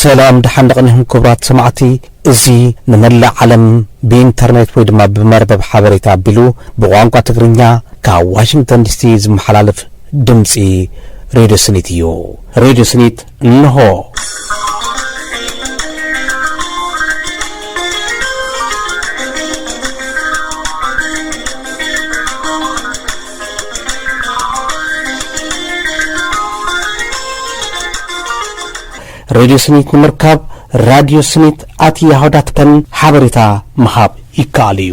ሰላም ድሓን ደቕኒኹም ክቡራት ሰማዕቲ እዚ ንመላእ ዓለም ብኢንተርኔት ወይ ድማ ብመርበብ ሓበሬታ ኣቢሉ ብቋንቋ ትግርኛ ካብ ዋሽንግተን ዲሲ ዝመሓላለፍ ድምፂ ሬድዮ ስኒት እዩ ሬድዮ ስኒት እንሆ። ሬድዮ ስኒት ንምርካብ ራድዮ ስኒት ኣት ያሆ ዳት ከም ሓበሬታ ምሃብ ይከኣል እዩ።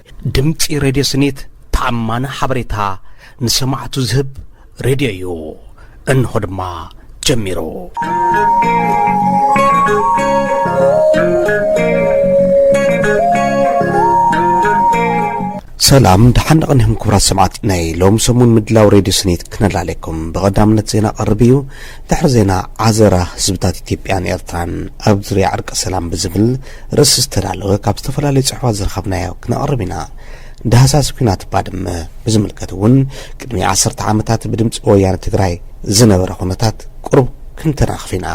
ድምጺ ሬድዮ ስኒት ተኣማኒ ሓበሬታ ንሰማዕቱ ዝህብ ሬድዮ እዩ። እንሆ ድማ ጀሚሩ። ሰላም ድሓን ንቕኒኹም ክቡራት ሰማዕቲ ናይ ሎም ሰሙን ምድላው ሬድዮ ስኒት ክነላለኩም ብቐዳምነት ዜና ቀርብ እዩ ድሕሪ ዜና ዓዘራ ህዝብታት ኢትዮጵያን ኤርትራን ኣብ ዙርያ ዕርቂ ሰላም ብዝብል ርእሲ ዝተዳለወ ካብ ዝተፈላለዩ ጽሑፋት ዝረኸብናዮ ክነቕርብ ኢና። ዳህሳስ ኲናት ባድመ ብዝምልከት እውን ቅድሚ ዓሰርተ ዓመታት ብድምጺ ወያነ ትግራይ ዝነበረ ኩነታት ቁሩብ ክንተናኽፍ ኢና።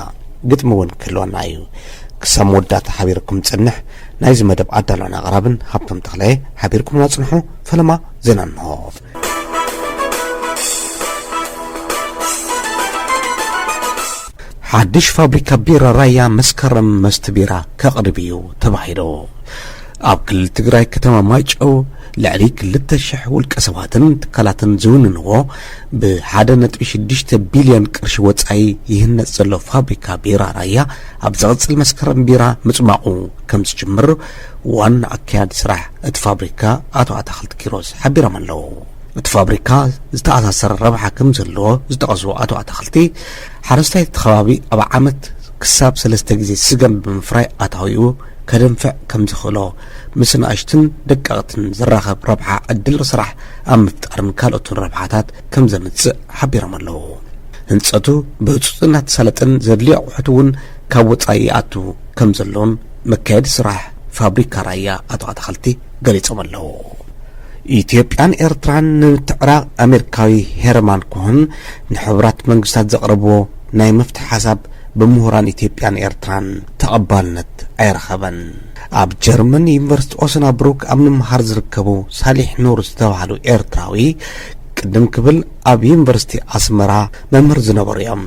ግጥሚ እውን ክህልወና እዩ። ክሳብ መወዳእታ ሓቢርኩም ጽንሕ ናይዚ መደብ ኣዳሎን ኣቕራብን ሃብቶም ተኽለ ሓቢርኩምና ጽንሑ ፈለማ ዜና እንሆ። ሓድሽ ፋብሪካ ቢራ ራያ መስከረም መስቲ ቢራ ከቕርብ እዩ ተባሂሉ ኣብ ክልል ትግራይ ከተማ ማይጨው ልዕሊ ክልተ ሽሕ ውልቀ ሰባትን ትካላትን ዝውንንዎ ብሓደ ነጥቢ ሽዱሽተ ቢልዮን ቅርሺ ወፃኢ ይህነፅ ዘሎ ፋብሪካ ቢራ ራያ ኣብ ዝቕፅል መስከረም ቢራ ምፅማቑ ከም ዝጅምር ዋና ኣካያዲ ስራሕ እቲ ፋብሪካ ኣቶ ኣታኽልቲ ኪሮስ ሓቢሮም ኣለዉ። እቲ ፋብሪካ ዝተኣሳሰረ ረብሓ ከም ዘለዎ ዝጠቐሱ ኣቶ ኣታኽልቲ፣ ሓረስታይ እቲ ከባቢ ኣብ ዓመት ክሳብ ሰለስተ ግዜ ስገም ብምፍራይ ኣታዊኡ ከደንፍዕ ከም ዝኽእሎ፣ ምስ ንኣሽቱን ደቀቕትን ዝራኸብ ረብሓ ዕድል ስራሕ ኣብ ምፍጣርን ካልኦትን ረብሓታት ከም ዘምጽእ ሓቢሮም ኣለዉ። ህንጸቱ ብህጹጽ እናተሳለጠን ዘድልዮ ኣቑሑት እውን ካብ ወጻኢ ይኣቱ ከም ዘሎን መካየዲ ስራሕ ፋብሪካ ራያ ኣቶ ኣታኽልቲ ገሊፆም ኣለው። ኢትዮጵያን ኤርትራን ንምትዕራቕ ኣሜሪካዊ ሄርማን ኮሀን ንሕቡራት መንግስታት ዘቕረብዎ ናይ መፍትሒ ሓሳብ ብምሁራን ኢትዮጵያን ኤርትራን ተቐባልነት ኣይረኸበን። ኣብ ጀርመን ዩኒቨርሲቲ ኦሰናብሩክ ኣብ ምምሃር ዝርከቡ ሳሊሕ ኑር ዝተባህሉ ኤርትራዊ ቅድም ክብል ኣብ ዩኒቨርሲቲ ኣስመራ መምህር ዝነበሩ እዮም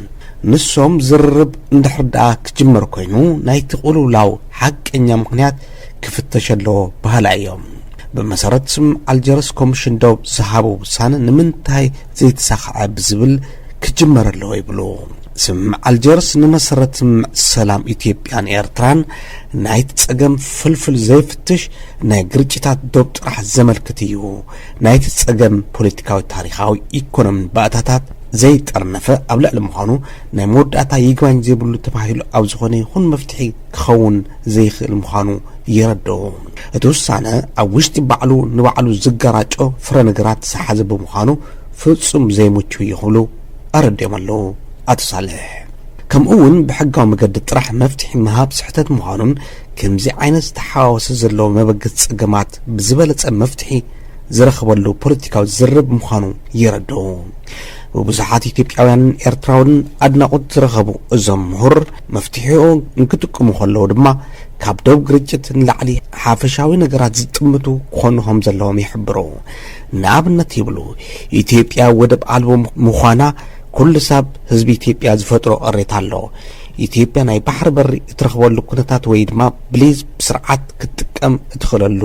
ንሶም ዝርርብ እንድሕር ደኣ ክጅመር ኮይኑ ናይቲ ቁልውላው ሓቀኛ ምክንያት ክፍተሽ ኣለዎ በሃላይ እዮም ብመሰረት ስም ኣልጀርስ ኮሚሽን ዶብ ዝሃቦ ውሳነ ንምንታይ ዘይተሳኽዐ ብዝብል ክጅመር ኣለዎ ይብሉ ስምምዕ ኣልጀርስ ንመሰረት ስምምዕ ሰላም ኢትዮጵያን ኤርትራን ናይቲ ጸገም ፍልፍል ዘይፍትሽ ናይ ግርጭታት ዶብ ጥራሕ ዘመልክት እዩ ናይቲ ጸገም ፖለቲካዊ፣ ታሪኻዊ፣ ኢኮኖምን ባእታታት ዘይጠርነፈ ኣብ ልዕሊ ምዃኑ ናይ መወዳእታ ይግባኝ ዘይብሉ ተባሂሉ ኣብ ዝኾነ ይኹን መፍትሒ ክኸውን ዘይኽእል ምዃኑ የረድኡ። እቲ ውሳነ ኣብ ውሽጢ ባዕሉ ንባዕሉ ዝገራጮ ፍረ ነገራት ዝሓዘ ብምዃኑ ፍጹም ዘይምቹ እዩ ክብሉ ኣረዲኦም ኣለዉ ኣቶ ሳልሕ። ከምኡ'ውን ብሕጋዊ መገዲ ጥራሕ መፍትሒ ምሃብ ስሕተት ምዃኑን፣ ከምዚ ዓይነት ዝተሓዋወሰ ዘሎ መበገሲ ጸገማት ብዝበለጸ መፍትሒ ዝረኽበሉ ፖለቲካዊ ዝርርብ ምዃኑ የረድኡ። ብብዙሓት ኢትዮጵያውያንን ኤርትራውንን ኣድናቖት ዝረኸቡ እዞም ምሁር፣ መፍትሒኡ እንክጥቅሙ ከለዉ ድማ ካብ ዶብ ግርጭት ንላዕሊ ሓፈሻዊ ነገራት ዝጥምቱ ክኾኑ ከም ዘለዎም ይሕብሩ። ንኣብነት ይብሉ፣ ኢትዮጵያ ወደብ ኣልቦ ምዃና ኩሉ ሳብ ህዝቢ ኢትዮጵያ ዝፈጥሮ ቅሬታ ኣሎ። ኢትዮጵያ ናይ ባሕሪ በሪ እትረኽበሉ ኩነታት ወይ ድማ ብሊዝ ብስርዓት ክትጥቀም እትኽእለሉ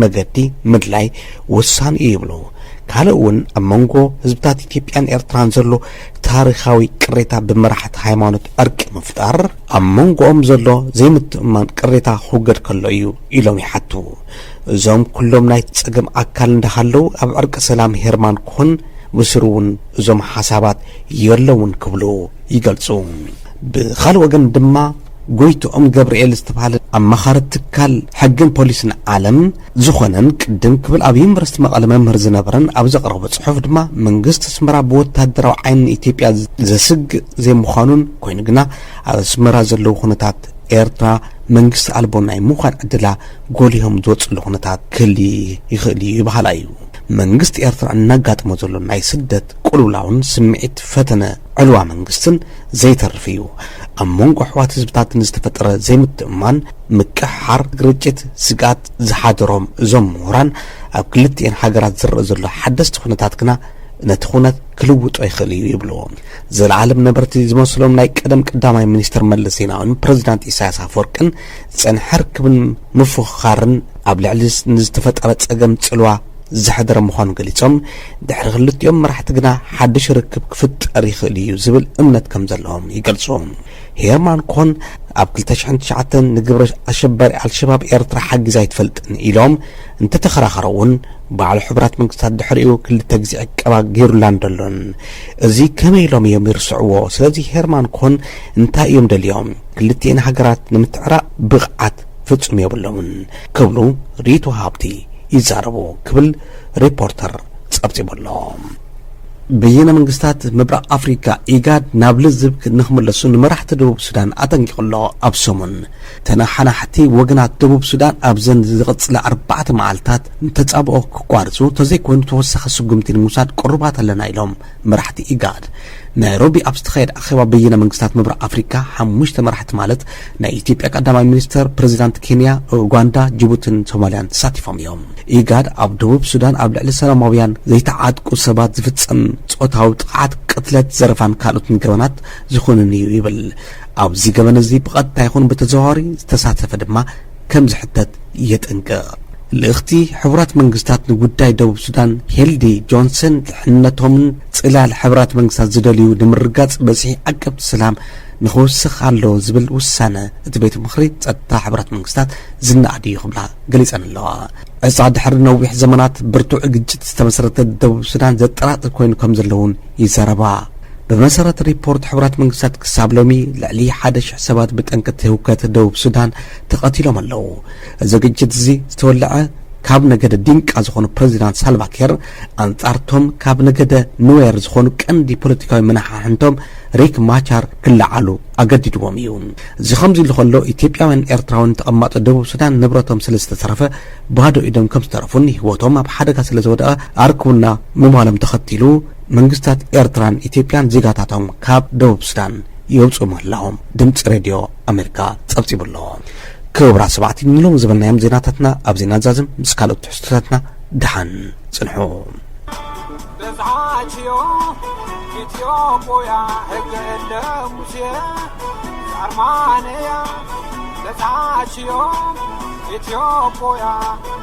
መገዲ ምድላይ ወሳኒ እዩ ይብሉ። ካልእ እውን ኣብ መንጎ ህዝብታት ኢትዮጵያን ኤርትራን ዘሎ ታሪኻዊ ቅሬታ ብመራሕቲ ሃይማኖት ዕርቂ ምፍጣር ኣብ መንጎኦም ዘሎ ዘይምትእምማን ቅሬታ ክውገድ ከሎ እዩ ኢሎም ይሓቱ። እዞም ኩሎም ናይቲ ጸገም ኣካል እንዳሃለው ኣብ ዕርቂ ሰላም ሄርማን ኮን ብስሩ እውን እዞም ሓሳባት የለውን ክብሉ ይገልጹ። ብኻልእ ወገን ድማ ጎይትኦም ገብርኤል ዝተብሃለ ኣማኻሪ ትካል ሕግን ፖሊስን ዓለም ዝኾነን ቅድም ክብል ኣብ ዩኒቨርስቲ መቐለ መምህር ዝነበረን ኣብ ዘቕረቦ ጽሑፍ ድማ መንግስቲ ኣስመራ ብወተሃደራዊ ዓይኒ ንኢትዮጵያ ዘስግእ ዘይምዃኑን ኮይኑ ግና ኣብ ኣስመራ ዘለዉ ኩነታት ኤርትራ መንግስቲ ኣልቦ ናይ ምዃን ዕድላ ጎሊሆም ዝወጽሉ ኩነታት ክህሊ ይኽእል እዩ በሃላይ እዩ። መንግስቲ ኤርትራ እናጋጥሞ ዘሎ ናይ ስደት ቁልውላውን ስምዒት ፈተነ ዕልዋ መንግስትን ዘይተርፍ እዩ። ኣብ መንጎ ኣሕዋት ህዝብታት ንዝተፈጠረ ዘይምትእምማን፣ ምቅሕሓር፣ ግርጭት፣ ስግኣት ዝሓደሮም እዞም ምሁራን፣ ኣብ ክልቲኤን ሃገራት ዝረእ ዘሎ ሓደስቲ ኩነታት ግና ነቲ ኩነት ክልውጦ ይኽእል እዩ ይብሉ። ዘለኣለም ነበርቲ ዝመስሎም ናይ ቀደም ቀዳማይ ሚኒስትር መለስ ዜናዊን ፕረዚዳንት ኢሳያስ ኣፈወርቅን ዝጸንሐ ርክብን ምፍኽኻርን ኣብ ልዕሊ ንዝተፈጠረ ጸገም ጽልዋ ዝሐደረ ምዃኑ ገሊጾም፣ ድሕሪ ክልቲኦም መራሕቲ ግና ሓድሽ ርክብ ክፍጠር ይኽእል እዩ ዝብል እምነት ከምዘለዎም ይገልጹ። ሄርማን ኮን ኣብ ክልተ ሽሕን ትሽዓተን ንግብረ ኣሸባሪ ኣልሸባብ ኤርትራ ሓጊዛ ኣይትፈልጥን ኢሎም እንተተኸራኸሩ'ውን ባዕሉ ሕቡራት መንግስታት ድሕሪኡ ክልተ ግዜ ዕቀባ ገይሩላን ደሎን እዚ ከመይ ኢሎም እዮም ይርስዕዎ? ስለዚ ሄርማን ኮን እንታይ እዮም ደልዮም? ክልቲኤን ሃገራት ንምትዕራቕ ብቕዓት ፍጹም የብሎምን ክብሉ ሪቶ ሃብቲ ይዛረቡ ክብል ሪፖርተር ጸብጺቡ ኣሎ። በየነ መንግስታት ምብራቕ ኣፍሪካ ኢጋድ ናብ ልዝብ ንክምለሱ ንመራሕቲ ደቡብ ሱዳን ኣጠንቂቑ ኣሎ። ኣብ ሰሙን ተነሓናሕቲ ወገናት ደቡብ ሱዳን ኣብዘን ዝቕፅላ ኣርባዕተ መዓልታት ንተፃብኦ ክቋርፁ ተዘይኮይኑ ተወሳኺ ስጉምቲ ንምውሳድ ቅሩባት ኣለና ኢሎም። መራሕቲ ኢጋድ ናይሮቢ ኣብ ዝተኻየደ ኣኼባ በይነ መንግስታት ምብራቕ ኣፍሪካ ሓሙሽተ መራሕቲ ማለት ናይ ኢትዮጵያ ቀዳማይ ሚኒስተር፣ ፕሬዚዳንት ኬንያ፣ ኡጋንዳ፣ ጅቡትን ሶማሊያን ተሳቲፎም እዮም። ኢጋድ ኣብ ደቡብ ሱዳን ኣብ ልዕሊ ሰላማውያን ዘይተዓጥቁ ሰባት ዝፍፀም ፆታዊ ጥቕዓት፣ ቅትለት፣ ዘረፋን ካልኦትን ገበናት ዝኹንን እዩ ይብል። ኣብዚ ገበን እዚ ብቐጥታ ይኹን ብተዘዋዋሪ ዝተሳተፈ ድማ ከም ዝሕተት የጠንቅቕ። ልእኽቲ ሕቡራት መንግስታት ንጉዳይ ደቡብ ሱዳን ሄልዲ ጆንሰን ድሕንነቶምን ፅላል ሕቡራት መንግስታት ዝደልዩ ንምርግጋፅ በዝሒ ዓቀብቲ ሰላም ንኽውስኽ ኣለዎ ዝብል ውሳነ እቲ ቤት ምኽሪ ፀጥታ ሕቡራት መንግስታት ዝነኣድ እዩ ክብላ ገሊፀን ኣለዋ። ዕፃ ድሕሪ ነዊሕ ዘመናት ብርቱዕ ግጭት ዝተመስረተ ደቡብ ሱዳን ዘጠራጥር ኮይኑ ከም ዘሎ እውን ይዛረባ። ብመሰረት ሪፖርት ሕቡራት መንግስታት ክሳብ ሎሚ ልዕሊ ሓደ ሽሕ ሰባት ብጠንቂ እቲ ህውከት ደቡብ ሱዳን ተቐቲሎም ኣለዉ። እዚ ግጭት እዚ ዝተወልዐ ካብ ነገደ ዲንቃ ዝኾኑ ፕረዚዳንት ሳልቫኬር ኣንጻር ቶም ካብ ነገደ ኑዌር ዝኾኑ ቀንዲ ፖለቲካዊ መናሓሕንቶም ሪክ ማቻር ክለዓሉ ኣገዲድዎም እዩ። እዚ ከምዚ ኢሉ ከሎ ኢትዮጵያውያን ኤርትራውያን ተቐማጦ ደቡብ ሱዳን ንብረቶም ስለ ዝተዘረፈ ባዶ ኢዶም ከም ዝተረፉን ህይወቶም ኣብ ሓደጋ ስለ ዝወደቐ ኣርክቡና ምባሎም ተኸቲሉ መንግስታት ኤርትራን ኢትዮጵያን ዜጋታቶም ካብ ደቡብ ሱዳን የውጽኡ ምህላዎም ድምጺ ሬድዮ ኣሜሪካ ጸብጺቡ ኣሎ። ክቡራት ሰማዕቲ ንሎሚ ዝበልናዮም ዜናታትና ኣብዚ ናዛዝም ምስ ካልኦት ትሕዝቶታትና ደሓን ጽንሑ። በዝሓትዮ ኢትዮጶያ ሕገ እለ ሙሴ ኣርማንያ በዝሓትዮ ኢትዮጶያ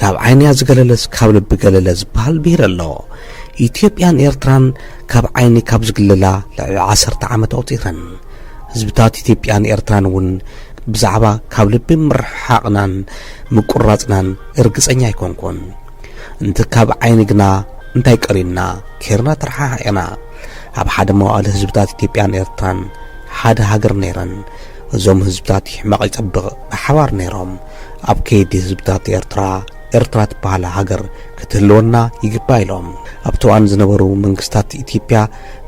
ካብ ዓይንያ ዝገለለስ ካብ ልቢ ገለለ ዝበሃል ብሂል ኣሎ። ኢትዮጵያን ኤርትራን ካብ ዓይኒ ካብ ዝግለላ ልዕሊ ዓሰርተ ዓመት ኣቑጺረን። ህዝብታት ኢትዮጵያን ኤርትራን እውን ብዛዕባ ካብ ልቢ ምርሕሓቕናን ምቁራጽናን እርግጸኛ ኣይኮንኩን። እንቲ ካብ ዓይኒ ግና እንታይ ቀሪና ኬርና ተረሓሓቂና። ኣብ ሓደ መዋእለ ህዝብታት ኢትዮጵያን ኤርትራን ሓደ ሃገር ነይረን። እዞም ህዝብታት ይሕመቕ ይጸብቕ ብሓባር ነይሮም። ኣብ ከይዲ ህዝብታት ኤርትራ፣ ኤርትራ ትበሃል ሃገር ክትህልወና ይግባእ ኢሎም። ኣብቲ እዋን ዝነበሩ መንግስታት ኢትዮጵያ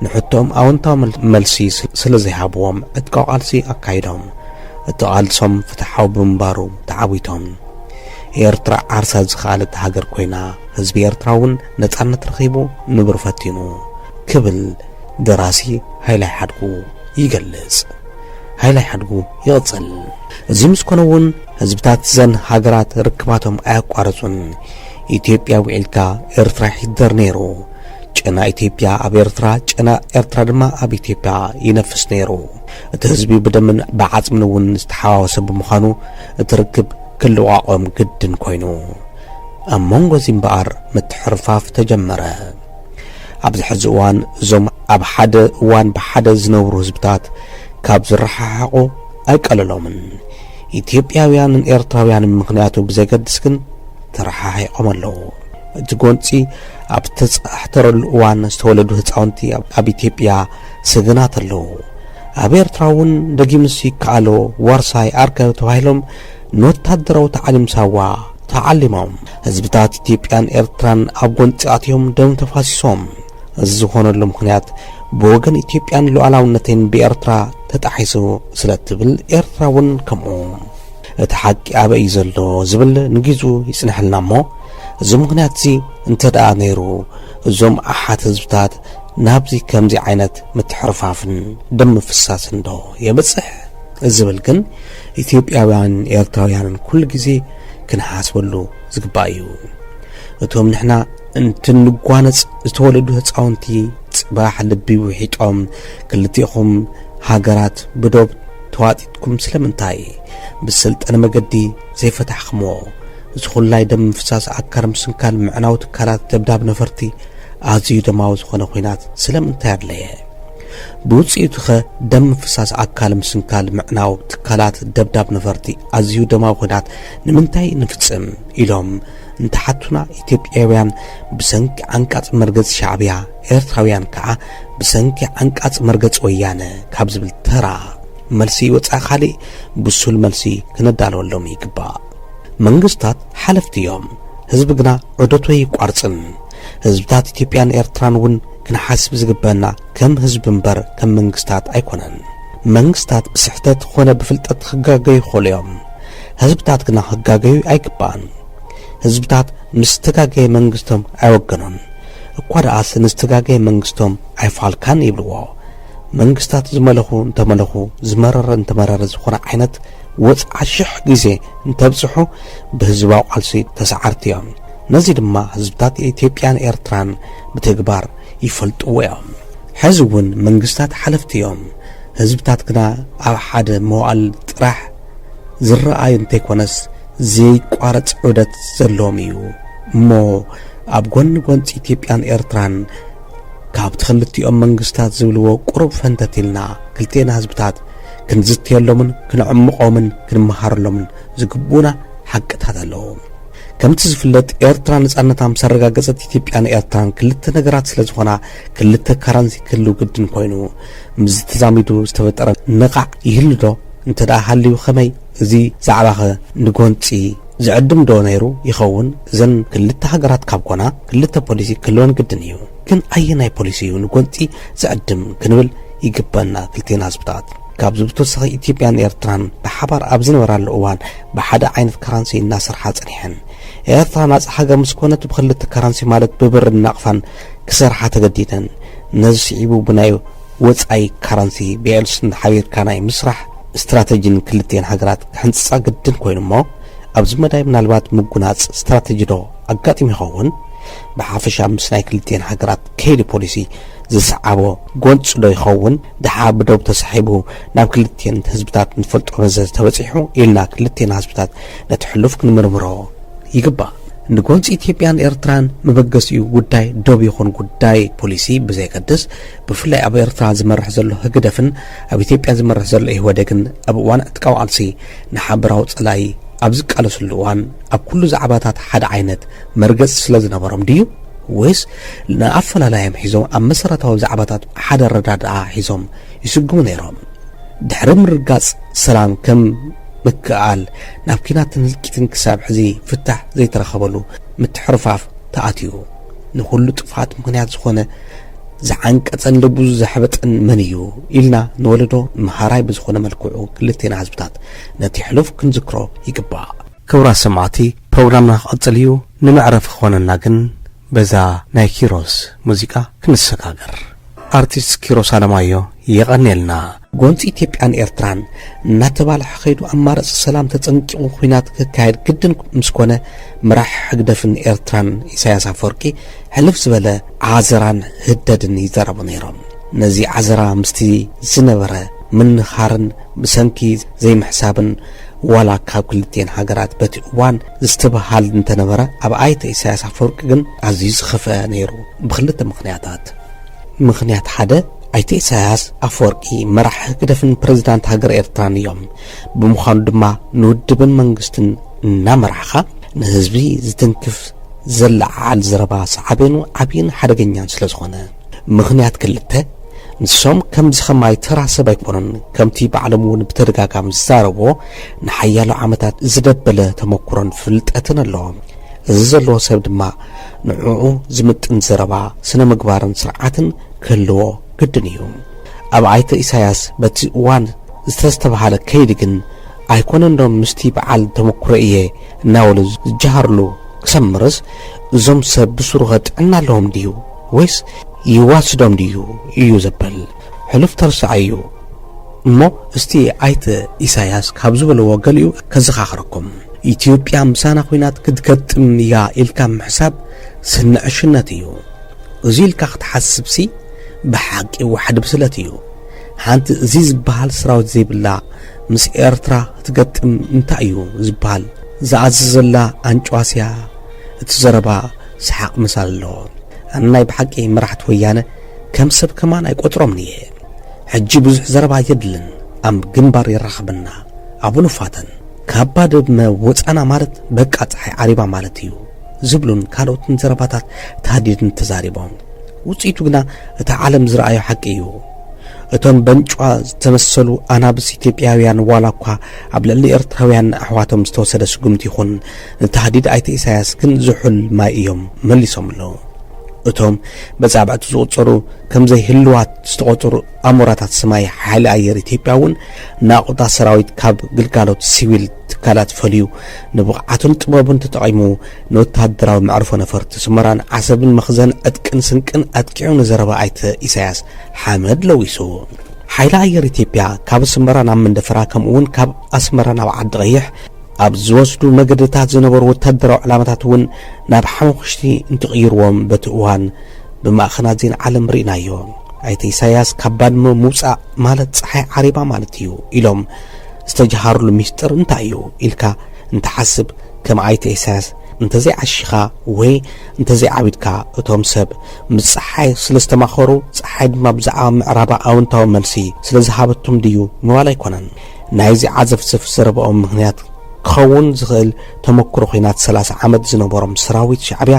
ንሕቶኦም ኣወንታዊ መልሲ ስለዘይሃብዎም ዕጥቃዊ ቃልሲ ኣካይዶም። እቲ ቃልሶም ፍትሓዊ ብምንባሩ ተዓዊቶም። ኤርትራ ዓርሳ ዝኸኣለት ሃገር ኮይና፣ ህዝቢ ኤርትራ እውን ነጻነት ረኺቡ ንብሩ ፈቲኑ ክብል ደራሲ ሃይላይ ሓድጉ ይገልጽ። ሃይላይ ሓድጉ ይቕጽል። እዚ ምስ ኮነ እውን ህዝብታት እዘን ሃገራት ርክባቶም ኣየቋረጹን። ኢትዮጵያ ውዒልካ ኤርትራ ይሕደር ነይሩ። ጨና ኢትዮጵያ ኣብ ኤርትራ፣ ጨና ኤርትራ ድማ ኣብ ኢትዮጵያ ይነፍስ ነይሩ። እቲ ህዝቢ ብደምን ብዓጽምን እውን ዝተሓዋወሰ ብምዃኑ እቲ ርክብ ክልቋቖም ግድን ኮይኑ። ኣብ መንጎ እዚ እምበኣር ምትሕርፋፍ ተጀመረ። ኣብዚ ሕዚ እዋን እዞም ኣብ ሓደ እዋን ብሓደ ዝነብሩ ህዝብታት ካብ ዝረሓሓቑ ኣይቀልሎምን። ኢትዮጵያውያንን ኤርትራውያንን ምኽንያቱ ብዘገድስ ግን ተረሓሒቖም ኣለዉ። እቲ ጎንፂ ኣብ ዝተፃሕተረሉ እዋን ዝተወለዱ ህፃውንቲ ኣብ ኢትዮጵያ ሰገናት ኣለዉ። ኣብ ኤርትራ እውን ደጊምስ ይከኣሎ ዋርሳይ ኣርከ ተባሂሎም ንወታደራዊ ታዕሊም ሳዋ ተዓሊሞም። ህዝብታት ኢትዮጵያን ኤርትራን ኣብ ጎንጺ ኣትዮም ደም ተፋሲሶም። እዚ ዝኾነሉ ምኽንያት ብወገን ኢትዮጵያን ሉዓላውነተይን ብኤርትራ ተጣሒሱ ስለ እትብል ኤርትራ እውን ከምኡ። እቲ ሓቂ ኣበይ እዩ ዘሎ ዝብል ንጊዙ ይጽንሐልና እሞ እዚ ምኽንያት እዚ እንተ ደኣ ነይሩ እዞም ኣሓት ህዝብታት ናብዚ ከምዚ ዓይነት ምትሕርፋፍን ደም ምፍሳስን ዶ የብጽሕ ዝብል ግን ኢትዮጵያውያን ኤርትራውያንን ኩሉ ግዜ ክንሓስበሉ ዝግባእ እዩ። እቶም ንሕና እንትንጓነጽ ዝተወለዱ ህጻውንቲ ጽባሕ ልቢ ውሒጦም ክልቲኹም ሃገራት ብዶብ ተዋጢጥኩም ስለምንታይ ብሰልጠነ መገዲ ዘይፈታሕክሞ እዚ ኩላይ ደም ምፍሳስ ኣካር ምስንካል ምዕናው ትካላት ደብዳብ ነፈርቲ ኣዝዩ ደማዊ ዝኾነ ኹናት ስለምንታይ ኣድለየ? ብውጽኢቱኸ ደም ምፍሳስ ኣካል ምስንካል ምዕናው ትካላት ደብዳብ ነፈርቲ ኣዝዩ ደማዊ ኹናት ንምንታይ ንፍጽም ኢሎም እንተሓቱና ኢትዮጵያውያን ብሰንኪ ዓንቃጽ መርገጽ ሻዕብያ ኤርትራውያን ከኣ ብሰንኪ ዓንቃጽ መርገጽ ወያነ ካብ ዝብል ተራ መልሲ ወጻኢ ካልእ ብሱል መልሲ ክነዳለወሎም ይግባእ። መንግስታት ሓለፍቲ እዮም፣ ህዝቢ ግና ዑደቱ ኣይቋርጽን። ህዝብታት ኢትዮጵያን ኤርትራን እውን ክንሓስብ ዝግበአና ከም ህዝቢ እምበር ከም መንግስታት ኣይኮነን። መንግስታት ብስሕተት ኾነ ብፍልጠት ክጋገዩ ይኸእሉ እዮም። ህዝብታት ግና ክጋገዩ ኣይግባእን። ህዝብታት ምስ ዝተጋገየ መንግስቶም ኣይወገኑን። እኳ ደኣስ ንዝተጋገየ መንግስቶም ኣይፋልካን ይብልዎ። መንግስታት ዝመለኹ እንተመለኹ ዝመረረ እንተመረረ ዝኾነ ዓይነት ወጽዓ ሽሕ ግዜ እንተብጽሑ ብህዝባዊ ቃልሲ ተሰዓርቲ እዮም። ነዚ ድማ ህዝብታት ኢትዮጵያን ኤርትራን ብተግባር ይፈልጥዎ እዮም። ሕዚ እውን መንግስታት ሓለፍቲ እዮም፣ ህዝብታት ግና ኣብ ሓደ መዋእል ጥራሕ ዝረኣይ እንተይኮነስ ዘይቋረፅ ዑደት ዘለዎም እዩ። እሞ ኣብ ጎኒ ጎንፂ ኢትዮጵያን ኤርትራን ካብቲ ክልቲኦም መንግስታት ዝብልዎ ቁሩብ ፈንተት ኢልና ክልቴና ህዝብታት ክንዝትየሎምን ክንዕምቖምን ክንመሃረሎምን ዝግብኡና ሓቅታት ኣለዉ። ከምቲ ዝፍለጥ ኤርትራ ነጻነታ ምስ ኣረጋገጸት ኢትዮጵያን ኤርትራን ክልተ ነገራት ስለ ዝኾና ክልተ ካራንሲ ክህልው ግድን ኮይኑ ምስዚ ተዛሚዱ ዝተፈጠረ ነቓዕ ይህሉ ዶ እንተ ደኣ ሃልዩ ከመይ እዚ ዛዕባኸ ንጎንጺ ዝዕድም ዶ ነይሩ ይኸውን እዘን ክልተ ሃገራት ካብ ኮና ክልተ ፖሊሲ ክህልወን ግድን እዩ ግን ኣየናይ ፖሊሲ እዩ ንጎንጺ ዝዕድም ክንብል ይግበና ክልቴና ህዝብታት ካብዚ ብተወሳኺ ኢትዮጵያን ኤርትራን ብሓባር ኣብ ዝነበራሉ እዋን ብሓደ ዓይነት ከረንሲ እናሰርሓ ጸኒሐን። ኤርትራ ናጻ ሃገር ምስ ኮነት ብኽልተ ከረንሲ ማለት ብብርን ናቕፋን ክሰርሓ ተገዲደን። ነዚ ስዒቡ ብናይ ወጻኢ ከረንሲ ብኤልስን ሓቢርካ ናይ ምስራሕ ስትራተጂ ንክልቲኤን ሃገራት ክሕንጽጻ ግድን ኮይኑ'ሞ ኣብዚ መዳይ ምናልባት ምጉናጽ ስትራተጂዶ ኣጋጢሙ ይኸውን? ብሓፈሻ ምስ ናይ ክልቲኤን ሃገራት ከይዲ ፖሊሲ ዝሰዓቦ ጎንጺዶ ይኸውን? ደሓር ብዶብ ተሳሒቡ ናብ ክልቴን ህዝብታት ንፈልጦ በዘ ተበጺሑ ኢልና ክልቴና ህዝብታት ነቲ ሕሉፍ ክንምርምሮ ይግባእ። ንጎንጺ ኢትዮጵያን ኤርትራን መበገሲኡ ጉዳይ ዶብ ይኹን ጉዳይ ፖሊሲ ብዘየገድስ ብፍላይ ኣብ ኤርትራ ዝመርሕ ዘሎ ህግደፍን ኣብ ኢትዮጵያ ዝመርሕ ዘሎ ኢህወደግን ኣብ እዋን ዕጥቃዊ ቃልሲ ንሓበራዊ ጸላኢ ኣብ ዝቃለስሉ እዋን ኣብ ኩሉ ዛዕባታት ሓደ ዓይነት መርገጽ ስለ ዝነበሮም ድዩ ወይስ ንኣፈላላዮም ሒዞም ኣብ መሰረታዊ ዛዕባታት ሓደ ኣረዳድኣ ሒዞም ይስጉሙ ነይሮም። ድሕሪ ምርግጋጽ ሰላም ከም ምክእኣል ናብ ኲናትን ህልቂትን ክሳብ ሕዚ ፍታሕ ዘይተረኸበሉ ምትሕርፋፍ ተኣትዩ። ንኹሉ ጥፍኣት ምኽንያት ዝኾነ፣ ዝዓንቀጸን ልቡ ዘሕበጠን መን እዩ ኢልና ንወለዶ መሃራይ ብዝኾነ መልክዑ ክልቴና ህዝብታት ነቲ ሕሉፍ ክንዝክሮ ይግባእ። ክብራት ሰማዕቲ ፕሮግራምና ክቕጽል እዩ፣ ንመዕረፊ ክኾነና ግን በዛ ናይ ኪሮስ ሙዚቃ ክንሰጋገር ኣርቲስት ኪሮስ ኣለማዮ የቐኔልና። ጎንፂ ኢትዮጵያን ኤርትራን እናተባልሐ ከይዱ ኣማረፂ ሰላም ተፀንቂቑ ኹናት ክካየድ ግድን ምስ ኮነ መራሒ ሕግደፍን ኤርትራን ኢሳያስ ኣፈወርቂ ሕልፍ ዝበለ ዓዘራን ህደድን ይዘረቡ ነይሮም ነዚ ዓዘራ ምስቲ ዝነበረ ምንኻርን ብሰንኪ ዘይምሕሳብን ዋላ ካብ ክልቲኤን ሃገራት በቲ እዋን ዝትብሃል እንተነበረ ኣብ ኣይተ ኢሳያስ ኣፈወርቂ ግን ኣዝዩ ዝኸፍኣ ነይሩ ብኽልተ ምኽንያታት። ምኽንያት ሓደ ኣይተ ኢሳያስ ኣፈወርቂ መራሒ ህግደፍን ፕረዚዳንት ሃገረ ኤርትራን እዮም። ብምዃኑ ድማ ንውድብን መንግስትን እናመራሕኻ ንህዝቢ ዝትንክፍ ዘለዓዓል ዘረባ ሳዕቤኑ ዓብይን ሓደገኛን ስለዝኾነ። ምኽንያት ክልተ፣ ንሶም ከምዚ ከማይ ተራ ሰብ ኣይኮኑን፣ ከምቲ ባዕሎም እውን ብተደጋጋሚ ዝዛረብዎ ንሓያሎ ዓመታት ዝደበለ ተመኩሮን ፍልጠትን ኣለዎም። እዚ ዘለዎ ሰብ ድማ ንዕዑ ዝምጥን ዘረባ፣ ስነ ምግባርን ስርዓትን ክህልዎ ግድን እዩ። ኣብ ኣይተ ኢሳያስ በቲ እዋን ዝተስተብሃለ ከይዲ ግን ኣይኮነንዶ ምስቲ በዓል ተመኩሮ እየ እናበሉ ዝጀሃርሉ ክሰምርስ እዞም ሰብ ብሱሩኸ ጥዕና ኣለዎም ድዩ? ወይስ ይዋስዶም ድዩ እዩ ዘበል ሕሉፍ ተርሳዓዩ እሞ እስቲ ኣይተ ኢሳያስ ካብ ዝበልዎ ገሊኡ ከዘኻኽረኩም ኢትዮጵያ ምሳና ኹናት ክትገጥም እያ ኢልካ ምሕሳብ ስነ ዕሽነት እዩ እዚ ኢልካ ክትሓስብሲ ብሓቂ ዋሕዲ ብስለት እዩ ሓንቲ እዚ ዝበሃል ሰራዊት ዘይብላ ምስ ኤርትራ ክትገጥም እንታይ እዩ ዝበሃል ዝኣዘዘላ ኣንጭዋስያ እቲ ዘረባ ሰሓቕ ምሳል ኣሎ ኣነ ናይ ብሓቂ መራሕቲ ወያነ ከም ሰብ ከማን ኣይቆጽሮምን እየ ሕጂ ብዙሕ ዘረባ የድልን ኣብ ግንባር የራኽበና ኣብኡ ንፋተን ካባ ደብመ ወጻና ማለት በቃ ፀሓይ ዓሪባ ማለት እዩ ዝብሉን ካልኦትን ዘረባታት ታህዲድን ተዛሪቦም ውፅኢቱ ግና እቲ ዓለም ዝረኣዮ ሓቂ እዩ እቶም በንጫ ዝተመሰሉ ኣናብስ ኢትዮጵያውያን ዋላ እኳ ኣብ ልዕሊ ኤርትራውያን ኣሕዋቶም ዝተወሰደ ስጉምቲ ይኹን ንታህዲድ ኣይተ ኢሳያስ ግን ዝሑል ማይ እዮም መሊሶምሉ። እቶም በጻብዕቲ ዝቑጸሩ ከምዘይ ህልዋት ዝተቖጸሩ ኣሞራታት ስማይ ሓይሊ ኣየር ኢትዮጵያ እውን ናቑጣ ሰራዊት ካብ ግልጋሎት ሲቪል ትካላት ፈልዩ ንብቕዓቱን ጥበቡን ተጠቒሙ ንወተሃደራዊ መዕርፎ ነፈርቲ ስመራን ዓሰብን መኽዘን ዕጥቅን ስንቅን ኣጥቂዑ ንዘረባ ኣይተ ኢሳያስ ሓመድ ለዊሱ ሓይሊ ኣየር ኢትዮጵያ ካብ ኣስመራ ናብ መንደፈራ ከምኡውን ካብ ኣስመራ ናብ ዓዲ ቀይሕ ኣብ ዝወስዱ መገድታት ዝነበሩ ወታደራዊ ዕላማታት እውን ናብ ሓሙኹሽቲ እንትቕይርዎም በቲ እዋን ብማእኸናት ዜና ዓለም ርኢናዮ። ኣይተ ኢሳያስ ካብ ባድመ ምውፃእ ማለት ፀሓይ ዓሪባ ማለት እዩ ኢሎም ዝተጀሃርሉ ሚስጥር እንታይ እዩ ኢልካ እንትሓስብ ከም ኣይተ ኢሳያስ እንተዘይዓሺኻ ወይ እንተዘይዓቢድካ እቶም ሰብ ምስ ፀሓይ ስለ ዝተማኸሩ ፀሓይ ድማ ብዛዕባ ምዕራባ ኣውንታዊ መልሲ ስለ ዝሃበቶም ድዩ ምባል ኣይኮነን። ናይዚ ዓዘፍዘፍ ዘረባኦም ምኽንያት ክኸውን ዝኽእል ተመኩሮ ኹናት ሰላሳ ዓመት ዝነበሮም ሰራዊት ሻዕቢያ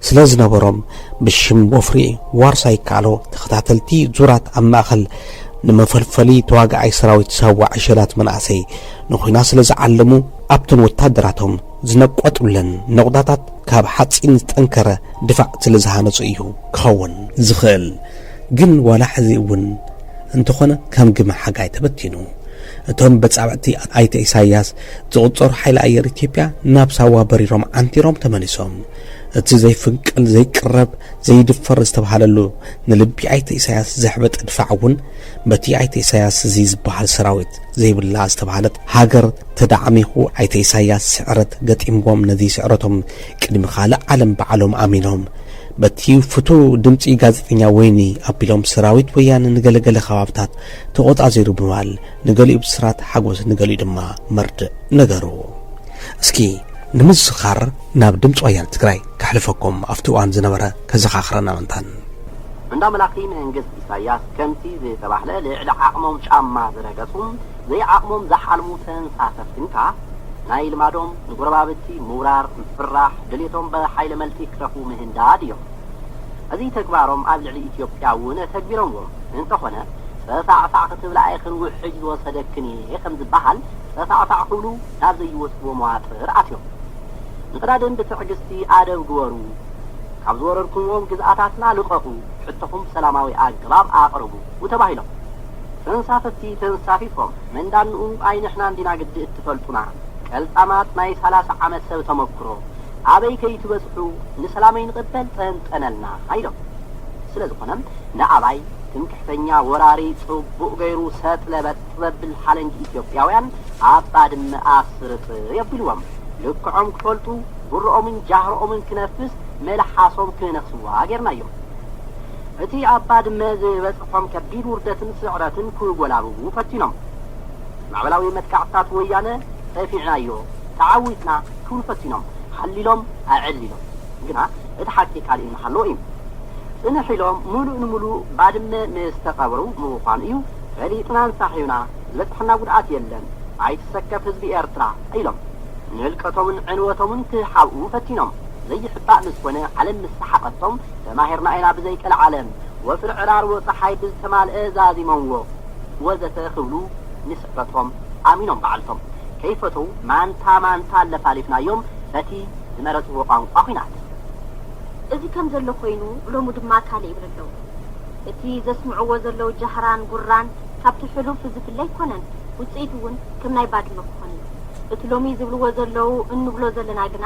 ስለዝነበሮም ብሽም ወፍሪ ዋርሳይ ይከኣሎ ተኸታተልቲ ዙራት ኣብ ማእኸል ንመፈልፈሊ ተዋጋኣይ ሰራዊት ሳዋ ዕሸላት መናእሰይ ንኹናት ስለዝዓለሙ ኣብተን ወታደራቶም ዝነቆጥብለን ነቑጣታት ካብ ሓፂን ዝጠንከረ ድፋዕ ስለዝሃነፁ እዩ ክኸውን ዝኽእል። ግን ዋላ ሕዚ እውን እንተኾነ ከም ግመ ሓጋይ ተበቲኑ እቶም በጻብዕቲ ኣይተ ኢሳያስ ዝቑጸሩ ሓይሊ ኣየር ኢትዮጵያ ናብ ሳዋ በሪሮም ዓንቲሮም ተመሊሶም እቲ ዘይፍንቀል ዘይቅረብ ዘይድፈር ዝተብሃለሉ ንልቢ ኣይተ ኢሳያስ ዘሕበጠ ድፋዕ እውን በቲ ኣይተ ኢሳያስ እዚ ዝበሃል ሰራዊት ዘይብላ ዝተብሃለት ሃገር ተዳዕሚኹ ኣይተ ኢሳያስ ስዕረት ገጢምዎም ነዚ ስዕረቶም ቅድሚ ካልእ ዓለም ባዕሎም ኣሚኖም በቲ ፍቱው ድምጺ ጋዜጠኛ ወይኒ ኣቢሎም ሰራዊት ወያነ ንገለ ገለ ከባብታት ተቖጻጺሩ ብምባል ንገሊኡ ብስራት ሓጎስ ንገሊኡ ድማ መርድእ ነገሩ። እስኪ ንምዝኽኻር ናብ ድምጺ ወያነ ትግራይ ከሕልፈኩም ኣብቲ እዋን ዝነበረ ከዘኻኽረና ምንታን። እንዳ መላኺ መንግስት ኢሳያስ ከምቲ ዝተባህለ ልዕሊ ዓቕሞም ጫማ ዝረገጹ ዘይዓቕሞም ዝሓልሙ ተንሳፈፍቲ እንካ ናይ ልማዶም ንጎረባብቲ ምውራር፣ ምፍርራሕ፣ ድሌቶም ብሓይለ መልጢ ክተፉ ምህንዳድ እዮም። እዚ ተግባሮም ኣብ ልዕሊ ኢትዮጵያ እውን ኣተግቢሮምዎም። እንተኾነ ፀፋዕፋዕ ክትብላ ኣይኽን ውሕጅ ዝወሰደክን እየ ከምዝበሃል ፀፋዕፋዕ ክብሉ ናብ ዘይወፅዎ መዋጥር ኣትዮም። ንቅዳድም ብትዕግስቲ ኣደብ ግበሩ፣ ካብ ዝወረርኩምዎም ግዝኣታትና ልቐቑ፣ ሕቶኹም ብሰላማዊ ኣገባብ ኣቕርቡ፣ ዩ ተባሂሎም ተንሳፈፍቲ ተንሳፊፎም መንዳንኡ ኣይ ንሕና እንዲና ግዲ እትፈልጡና ቀልጣማት ናይ ሰላሳ ዓመት ሰብ ተመኩሮ ኣበይ ከይትበጽሑ ንሰላም ኣይንቕበል ጠንጠነልና ኢሎም ስለ ዝኾነ ንኣባይ ትምክሕተኛ ወራሪ ጽቡቕ ገይሩ ሰጥ ለበጥ ዘብል ሓለንጊ ኢትዮጵያውያን ኣብ ባድመ ኣስርጥ የቢልዎም ልክዖም ክፈልጡ ጉሮኦምን ጃህሮኦምን ክነፍስ መልሓሶም ክነኽስዋ ጌርናዮም። እቲ ኣብ ባድመ ዝበጽሖም ከቢድ ውርደትን ስዕረትን ክጎላብቡ ፈቲኖም። ማዕበላዊ መጥቃዕትታት ወያነ ጸፊዕናዮ፣ ተዓዊትና ክብሉ ፈቲኖም። ሓሊሎም ኣዕሊሎም። ግና እቲ ሓቂ ካልእ እናሃለወ እዩ። ጽንሕ ኢሎም ምሉእ ንምሉእ ባድመ ምስ ተቐብሩ ምዃኑ እዩ ፈሊጥናን ሳሒብና፣ ዝበጽሐና ጉድኣት የለን፣ ኣይትሰከፍ ህዝቢ ኤርትራ ኢሎም። ንህልቀቶምን ዕንወቶምን ክሓብኡ ፈቲኖም። ዘይሕባእ ምስ ኮነ ዓለም ምስ ሰሓቐቶም፣ ተማሂርና ኢና ብዘይ ቀልዓለም ወፍሪ ዕራርቦ ጸሓይ ብዝተማልኤ ዛዚሞምዎ ወዘተ ክብሉ ንስዕረቶም ኣሚኖም ባዕልቶም ከይፈተዉ ማንታ ማንታ ኣለፋሊፍናዮም በቲ ዝመረጽዎ ቋንቋ ኩናት። እዚ ከም ዘሎ ኮይኑ ሎሚ ድማ ካልእ ይብሉ ኣለዉ። እቲ ዘስምዕዎ ዘለዉ ጃህራን ጉራን ካብቲ ሕሉፍ ዝፍለ ኣይኮነን ውጽኢቱ ውን ከም ናይ ባድመ ክኾን እዩ። እቲ ሎሚ ዝብልዎ ዘለዉ እንብሎ ዘለና ግና፣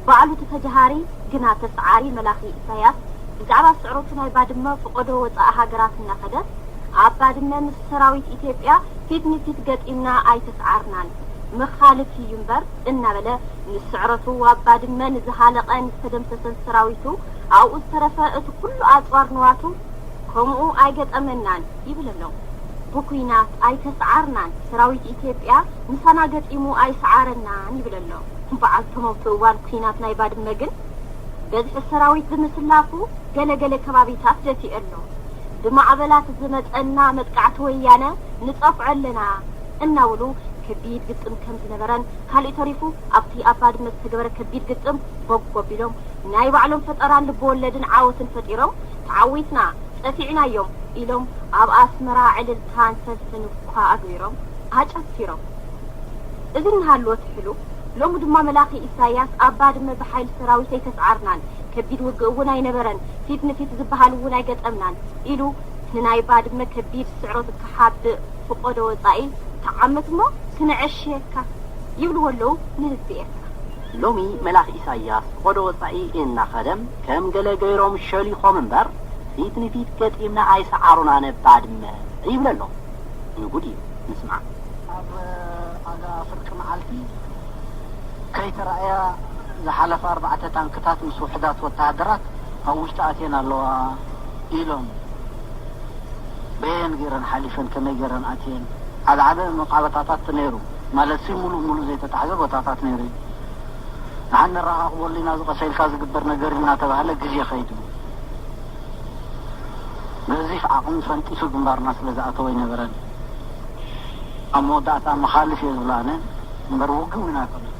ባዕሉ እቲ ተጃሃሪ ግና ተስዓሪ መላኺ ኢሳያስ ብዛዕባ ስዕረቱ ናይ ባድመ ፍቆዶ ወጻኢ ሃገራት እናኸደ ኣብ ባድመ ምስ ሰራዊት ኢትዮጵያ ፊት ንፊት ገጢምና ኣይተስዓርናን መኻልፍ እዩ እምበር እናበለ ምስ ስዕረቱ ኣብ ባድመ ንዝሃለቐ ንዝተደምሰሰን ሰራዊቱ ኣብኡ ዝተረፈ እቲ ኩሉ ኣጽዋር ንዋቱ ከምኡ ኣይገጠመናን ይብል ኣሎ። ብኩናት ኣይተስዓርናን ሰራዊት ኢትዮጵያ ምሳና ገጢሙ ኣይስዓረናን ይብል ኣሎ። በዓልቲ ሞት እዋን ኲናት ናይ ባድመ ግን በዝሒ ሰራዊት ብምስላፉ ገለ ገለ ከባቢታት ደፊኡ ኣሎ። ብማዕበላት ዝመጸና መጥቃዕቲ ወያነ ንጸፍዖ ኣለና እናበሉ ከቢድ ግጥም ከም ዝነበረን ካሊእ ተሪፉ ኣብቲ ኣብ ባድመ ዝተገበረ ከቢድ ግጥም ቦግ ኣቢሎም ናይ ባዕሎም ፈጠራን ልበወለድን ዓወትን ፈጢሮም ተዓዊትና ጸፊዕናዮም ኢሎም ኣብ ኣስመራ ዕልልታን ሰልፍን እኳ ኣግቢሮም ኣጨፊሮም እዚ እናሃለወ ትሕሉ ሎሚ ድማ መላኺ ኢሳያስ ኣብ ባድመ ብሓይሊ ሰራዊት ኣይተስዓርናን፣ ከቢድ ውግእ እውን ኣይነበረን፣ ፊት ንፊት ዝበሃል እውን ኣይገጠምናን ኢሉ ንናይ ባድመ ከቢድ ስዕረት ክሓብእ ፍቆዶ ወጻኢ ተዓመት እሞ ክነዐሽየካ ይብልዎ ኣለዉ ንህዝቢ ኤርትራ። ሎሚ መላኺ ኢሳያስ ፍቆዶ ወጻኢ እናኸደ ከም ገለ ገይሮም ሸሊኾም እምበር ፊት ንፊት ገጢምና ኣይሰዓሩናነ ባድመ ይብል ኣሎ። ንጉድ እዩ ምስማዕ። ኣብ ኣጋ ፍርቂ መዓልቲ ከይተራእያ ዝሓለፋ ኣርባዕተ ታንክታት ምስ ውሑዳት ወተሃደራት ኣብ ውሽጢ ኣትየን ኣለዋ ኢሎም። በየን ገይረን ሓሊፈን ከመይ ገይረን ኣትየን ዓበ ዓበ መቃበታታት ነይሩ ማለትሲ ሙሉእ ሙሉእ ዘይተታሕዘ ቦታታት ነይሩ እዩ። ንሓን ነረኻኽበሉ ኢና እዚ ቀሰ ኢልካ ዝግበር ነገር እዩ እናተባህለ ግዜ ከይዱ። ገዚፍ ዓቕሚ ፈንጢሱ ግንባርና ስለዝኣተወ ኣይነበረን። ኣብ መወዳእታ መኻልፍ እየ ዝብሎ ኣነ እምበር ውግእ ውን ኣይኮነን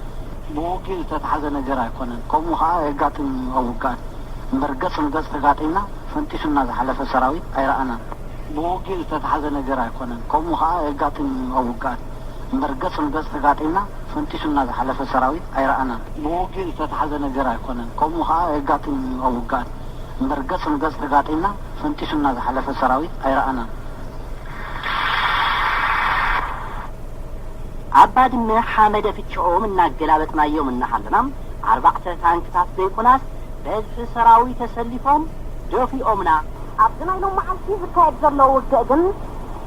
ብውግእ ዝተታሕዘ ነገር ኣይኮነን ከምኡ ከኣ የጋጥም እዩ ኣብ ውግኣት እምበር ገጽ ንገጽ ተጋጢምና ፈንጢሱና ዝሓለፈ ሰራዊት ኣይረኣናን ብውግእ ዝተታሕዘ ነገር ኣይኮነን ከምኡ ከኣ የጋጥም እዩ ኣብ ውግኣት እምበር ገጽ ንገጽ ተጋጢምና ፈንጢሱና ዝሓለፈ ሰራዊት ኣይረኣናን ብውግእ ዝተታሕዘ ነገር ኣይኮነን ከምኡ ከኣ የጋጥም እዩ ኣብ ውግኣት እምበር ገጽ ንገጽ ተጋጢምና ፈንጢሱና ዝሓለፈ ሰራዊት ኣይረኣናን ኣብ ባድመ ሓመደ ፍቸኦም እናገላበጥናዮም እናሃለና ኣርባዕተ ታንክታት ዘይኮናስ በዝሒ ሰራዊት ተሰሊፎም ደፊኦምና። ኣብዚ ናይ ሎም መዓልቲ ዝካየድ ዘሎ ውግእ ግን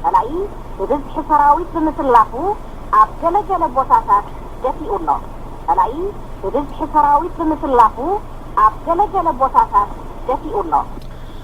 ፀላኢ ብብዝሒ ሰራዊት ብምስላፉ ኣብ ገለ ገለ ቦታታት ደፊኡ ኣሎ። ፀላኢ ብብዝሒ ሰራዊት ብምስላፉ ኣብ ገለ ገለ ቦታታት ደፊኡ ኣሎ።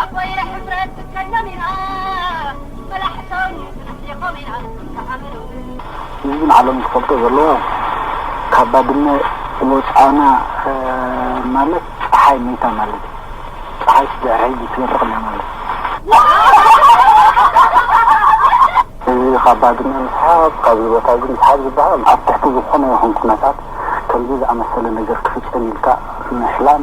ኣቦየ ሕፍረት ክትከሎም ኢና መላሕቶም ክንሕሊኾም ኢና ተኣምነው። ህዝብን ዓለምን ክፈልጦ ዘለዎ ካብ ባድመ ወጻእና ማለት ጸሓይ መይታ ማለት እዩ። ጸሓይ ስድዕር ሕጂ ትበርቕ ኣላ ማለት እዩ። እዚ ካብ ባድመ ምስሓብ ካብዚ ቦታ እዚ ምስሓብ ዝበሃል ኣብ ትሕቲ ዝኾነ ይኹን ኩነታት ከምዚ ዝኣመሰለ ነገር ክፍጸም ኢልካ ምሕላም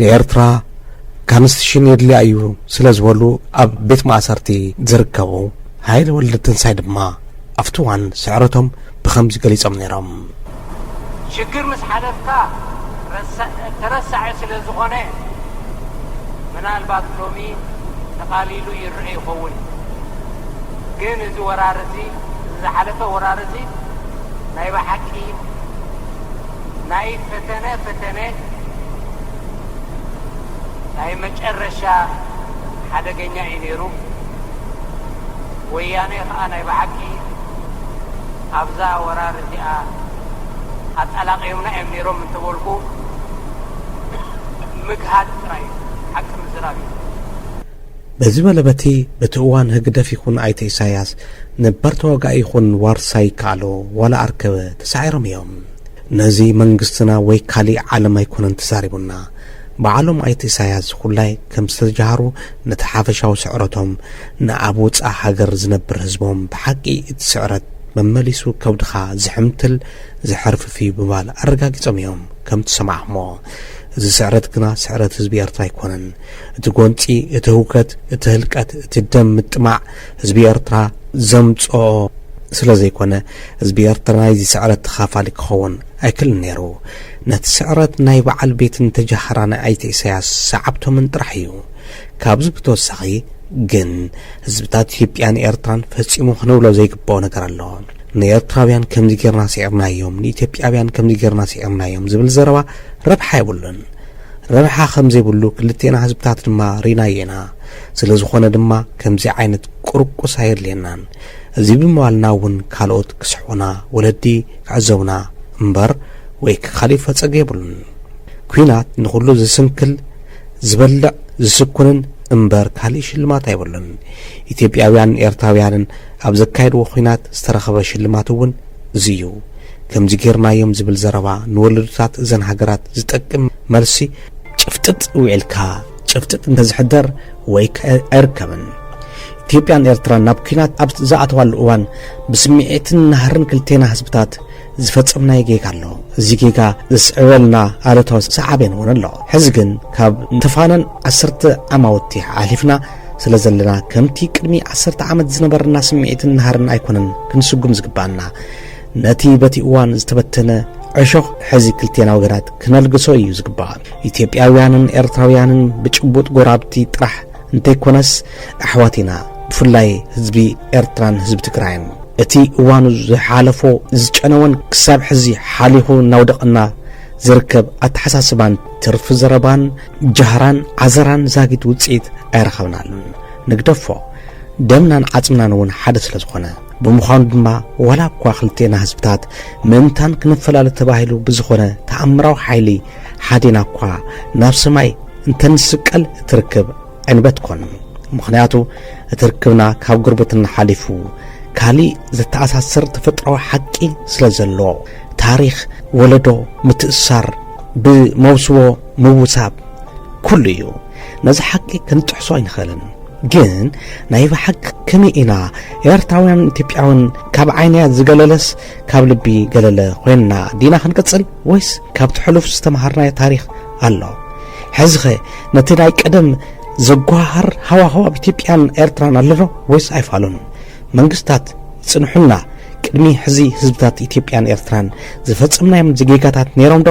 ንኤርትራ ካንስትሽን የድልያ እዩ ስለዝበሉ ኣብ ቤት ማእሰርቲ ዝርከቡ ሃይለ ወልደትንሳይ ድማ ኣብቲ እዋን ስዕረቶም ብኸምዚ ገሊጾም ነይሮም። ሽግር ምስ ሓለፍካ ተረሳዒ ስለዝኾነ ምናልባት ሎሚ ተቓሊሉ ይረኤ ይኸውን እዩ። ግን እዚ ወራር እዚ እዚ ዝሓለፈ ወራር እዚ ናይ ብሓቂ ናይ ፈተነ ፈተነ ናይ መጨረሻ ሓደገኛ እዩ ነይሩ። ወያነ ከዓ ናይ ብሓቂ ኣብዛ ወራር እዚኣ ኣጠላቂዮምና እዮም ነይሮም እንተበልኩ ምግሃድ ጥራይ እዩ፣ ሓቂ ምዝራብ እዩ። በዚ በለ በቲ በቲ እዋን ህግደፍ ይኹን ኣይተ ኢሳያስ ነባር ተዋጋኢ ይኹን ዋርሳይ ይከኣሎ ዋላ ኣርከበ ተሳዒሮም እዮም። ነዚ መንግስትና ወይ ካሊእ ዓለም ኣይኮነን ተዛሪቡና። በዓሎም ኣይተ ኢሳያስ ዝኹላይ ከም ዝተጀሃሩ ነቲ ሓፈሻዊ ስዕረቶም ንኣብ ወጻእ ሃገር ዝነብር ህዝቦም ብሓቂ እቲ ስዕረት መመሊሱ ከብድኻ ዝሕምትል ዘሕርፍፍ እዩ ብምባል ኣረጋጊጾም እዮም ከም ትሰማዕኹሞ። እዚ ስዕረት ግና ስዕረት ህዝቢ ኤርትራ ኣይኮነን። እቲ ጎንፂ፣ እቲ ህውከት፣ እቲ ህልቀት፣ እቲ ደም ምጥማዕ ህዝቢ ኤርትራ ዘምፀኦ ስለዘይኮነ ህዝቢ ኤርትራ ናይዚ ስዕረት ተኻፋሊ ክኸውን ኣይክልን ነይሩ። ነቲ ስዕረት ናይ በዓል ቤትን ተጃሃራን ኣይተ ኢሳያስ ሰዓብቶምን ጥራሕ እዩ። ካብዚ ብተወሳኺ ግን ህዝብታት ኢትዮጵያን ኤርትራን ፈፂሙ ክንብሎ ዘይግበኦ ነገር ኣሎ። ንኤርትራውያን ከምዚ ገይርና ስዒርናዮም ንኢትዮጵያውያን ከምዚ ገይርና ስዒርናዮም ዝብል ዘረባ ረብሓ የብሉን። ረብሓ ከምዘይብሉ ክልቴና ህዝብታት ድማ ሪናዮ ኢና። ስለዝኾነ ድማ ከምዚ ዓይነት ቁርቁስ ኣየድልየናን። እዚ ብምባልና እውን ካልኦት ክስሕቑና፣ ወለዲ ክዕዘቡና እምበር ወይ ክካሊእ ፈፀገ የብሉን። ኲናት ንኹሉ ዝስንክል፣ ዝበልዕ፣ ዝስኩንን እምበር ካሊእ ሽልማት ኣይብሉን። ኢትዮጵያውያንን ኤርትራውያንን ኣብ ዘካየድዎ ኲናት ዝተረኸበ ሽልማት እውን እዚ እዩ። ከምዚ ጌርናዮም ዝብል ዘረባ ንወለዶታት እዘን ሃገራት ዝጠቅም መልሲ ጭፍጥጥ ዊዒልካ ጭፍጥጥ እንተዝሕደር ወይ ከ ኣይርከብን። ኢትዮጵያን ኤርትራን ናብ ኩናት ኣብ ዝኣተዋሉ እዋን ብስምዒትን ናህርን ክልቴና ህዝብታት ዝፈጸምናዮ ጌጋ ኣሎ። እዚ ጌጋ ዘስዕበልና ኣሉታዊ ሰዓቤን እውን ኣሎ። ሕዚ ግን ካብ ንተፋነን ዓሰርተ ዓማውቲ ሓሊፍና ስለ ዘለና ከምቲ ቅድሚ ዓሰርተ ዓመት ዝነበረና ስምዒትን ናህርን ኣይኮነን ክንስጉም ዝግባኣና። ነቲ በቲ እዋን ዝተበተነ ዕሾኽ ሕዚ ክልቴና ወገናት ክነልግሶ እዩ ዝግባእ። ኢትዮጵያውያንን ኤርትራውያንን ብጭቡጥ ጎራብቲ ጥራሕ እንተይኮነስ ኣሕዋት ኢና፣ ብፍላይ ህዝቢ ኤርትራን ህዝቢ ትግራይን። እቲ እዋኑ ዝሓለፎ ዝጨነወን ክሳብ ሕዚ ሓሊኹ እናውደቐና ዝርከብ ኣተሓሳስባን ትርፊ ዘረባን ጃህራን ዓዘራን ዛጊት ውፅኢት ኣይረኸብናሉን። ንግደፎ ደምናን ዓፅምናን እውን ሓደ ስለ ዝኾነ ብምዃኑ ድማ ዋላ እኳ ክልቴና ህዝብታት ምእንታን ክንፈላለ ተባሂሉ ብዝኾነ ተኣምራዊ ሓይሊ ሓዴና እኳ ናብ ሰማይ እንተንስቀል እቲ ርክብ ዕንበት ኮን ምኽንያቱ እቲ ርክብና ካብ ጉርብትና ሓሊፉ ካሊእ ዘተኣሳስር ተፈጥራዊ ሓቂ ስለ ዘሎ ታሪኽ ወለዶ ምትእሳር ብመውስቦ ምውሳብ ኩሉ እዩ ነዚ ሓቂ ክንጥሕሶ ኣይንኽእልን ግን ናይ ብሓቂ ከመይ ኢና ኤርትራውያን ኢትዮጵያውን ካብ ዓይንያ ዝገለለስ ካብ ልቢ ገለለ ኮይንና ዲና ክንቅጽል ወይስ ካብቲ ሕሉፍ ዝተምሃርናዮ ታሪኽ ኣሎ ሕዚኸ ነቲ ናይ ቀደም ዘጓሃር ሃዋህው ኣብ ኢትዮጵያን ኤርትራን ኣለዶ ወይስ ኣይፋሉን መንግስታት ጽንሑልና ቅድሚ ሕዚ ህዝብታት ኢትዮጵያን ኤርትራን ዝፈጸምናዮም ዜጋታት ነይሮም ዶ?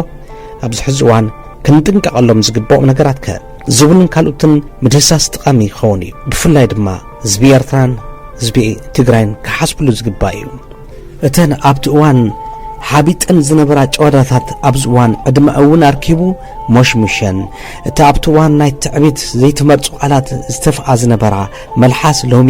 ኣብዚ ሕዚ እዋን ክንጥንቀቐሎም ዝግብኦም ነገራት ከ? ዝብሉን ካልኡትን ምድህሳስ ጠቓሚ ይኸውን እዩ። ብፍላይ ድማ ህዝቢ ኤርትራን ህዝቢ ትግራይን ክሓስብሉ ዝግባእ እዩ። እተን ኣብቲ እዋን ሓቢጠን ዝነበራ ጨወዳታት ኣብዚ እዋን ዕድመ እውን ኣርኪቡ ሞሽሙሸን እቲ ኣብቲ እዋን ናይ ትዕቢት ዘይተመርጹ ቃላት ዝተፍኣ ዝነበራ መልሓስ ሎሚ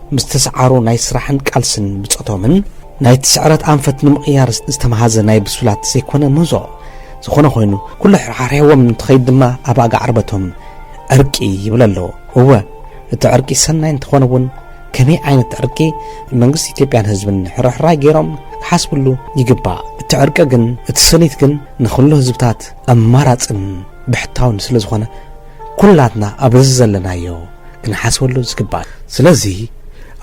ምስ ተስዓሩ ናይ ስራሕን ቃልስን ብጾቶምን፣ ናይቲ ስዕረት ኣንፈት ንምቕያር ዝተመሃዘ ናይ ብሱላት ዘይኮነ ምህዞ ዝኾነ ኮይኑ፣ ኩሉ ኣሕርሓርሒዎም እንትኸይድ ድማ ኣብ ኣጋ ዕርበቶም ዕርቂ ይብል ኣሎ። እወ እቲ ዕርቂ ሰናይ እንተኾነ'ውን ከመይ ዓይነት ዕርቂ መንግስቲ ኢትዮጵያን ህዝብን ሕርሕራይ ገይሮም ክሓስብሉ ይግባእ። እቲ ዕርቂ ግን እቲ ሰኒት ግን ንኹሉ ህዝብታት ኣማራጽን ብሕታውን ስለዝኾነ፣ ኩላትና ኣብ እዚ ዘለናዮ ክንሓስበሉ ዝግባእ ስለዚ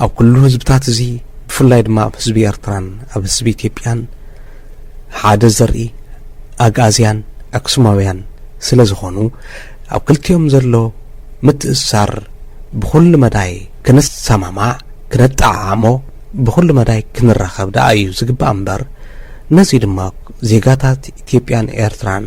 ኣብ ኩሉ ህዝብታት እዚ ብፍላይ ድማ ኣብ ህዝቢ ኤርትራን ኣብ ህዝቢ ኢትዮጵያን ሓደ ዘርኢ ኣግኣዝያን ኣክሱማውያን ስለ ዝኾኑ ኣብ ክልቲኦም ዘሎ ምትእስሳር ብኹሉ መዳይ ክንሰማማዕ ክነጠዓዓሞ ብኹሉ መዳይ ክንራኸብ ደኣ እዩ ዝግባእ እምበር ነዚ ድማ ዜጋታት ኢትዮጵያን ኤርትራን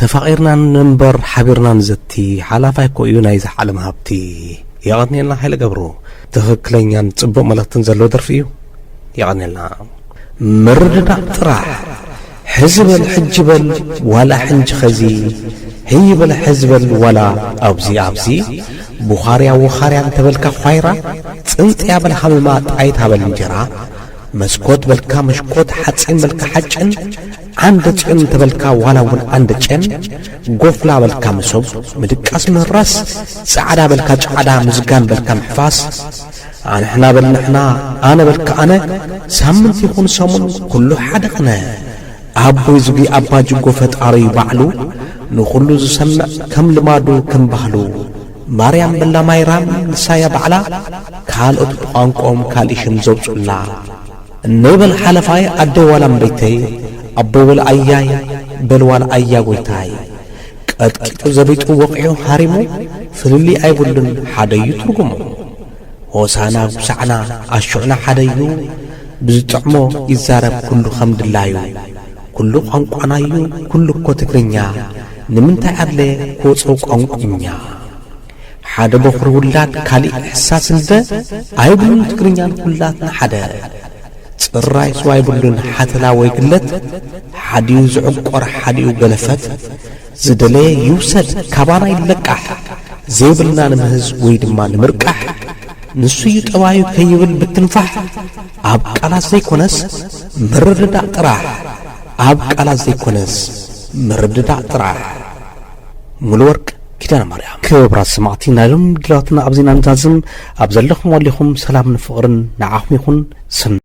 ተፋቒርና ንንበር ሓቢርና ንዘቲ ሓላፋይ እኮ እዩ ናይዚ ዓለም ሃብቲ የቐንየልና ሓይለ ገብሩ ትኽክለኛን ጽቡቕ መልእኽትን ዘለዎ ደርፊ እዩ የቐንየልና ምርድዳእ ጥራሕ ሕዚ በል ሕጂ በል ዋላ ሕንጂ ኸዚ ህይ በል ሕዚ በል ዋላ ኣብዚ ኣብዚ ቡኻርያ ወኻርያ እንተበልካ ዃይራ ጽንጽያ በል ሃመማ ጣይታ በል እንጀራ መስኮት በልካ መሽኮት ሓጺን በልካ ሓጭን ዓንደ ጽዮን እንተበልካ ዋላ እውን ዓንደ ጨን ጎፍላ በልካ መሶብ ምድቃስ ምህራስ ጻዕዳ በልካ ጫዕዳ ምዝጋን በልካ ምሕፋስ ኣንሕና በል ንሕና ኣነ በልካ ኣነ ሳምንት ይኹን ሰሙን ኩሉ ሓደ ኽነ ኣቦይ ዝጊ ኣባ ጅጎ ፈጣሪ ባዕሉ ንኹሉ ዝሰምዕ ከም ልማዱ ከም ባህሉ ማርያም በላ ማይራም ንሳያ ባዕላ ካልኦት ብቋንቆኦም ካልእ ሽም ዘውጹላ እነይ በል ሓለፋይ ኣደይ ዋላ እምበይተይ ኣቦይ ወላ ኣያይ በል ዋላ ኣያ ጎይታይ ቀጥቂጡ ዘቢጡ ወቂዑ ሃሪሙ ፍልልይ ኣይብሉን ሓደዩ ትርጉሙ ሆሳና ጉሳዕና ኣሹዕና ሓደዩ ብዝጥዕሞ ይዛረብ ኩሉ ከም ድላዩ ኩሉ ቋንቋናዩ ኩሉ እኮ ትግርኛ ንምንታይ ኣድለየ ክወጾ ቋንቁኛ ሓደ ቦኽሪ ውላድ ካሊእ ሕሳስ እንበ ኣይብሉን ትግርኛ ንኹላትና ሓደ ጽራይ ስዋ ኣይብሉን ሓተላ ወይ ግለት ሓዲኡ ዝዕቆር ሓዲኡ ገለፈት ዝደለየ ይውሰድ ካባና ይለቃሕ ዘይብልና ንምህዝ ወይ ድማ ንምርቃሕ ንሱዩ ጠባዩ ከይብል ብትንፋሕ ኣብ ቃላት ዘይኮነስ ምርድዳእ ጥራሕ ኣብ ቃላት ዘይኮነስ ምርድዳእ ጥራሕ ሙሉወርቅ ኪዳነ ማርያም ክብራት ሰማዕቲ ናይ ሎም ድራትና ኣብዚ ኢና ንዛዝም ኣብ ዘለኹም ኣሊኹም ሰላምን ፍቕርን ንዓኹም ይኹን ሰናይ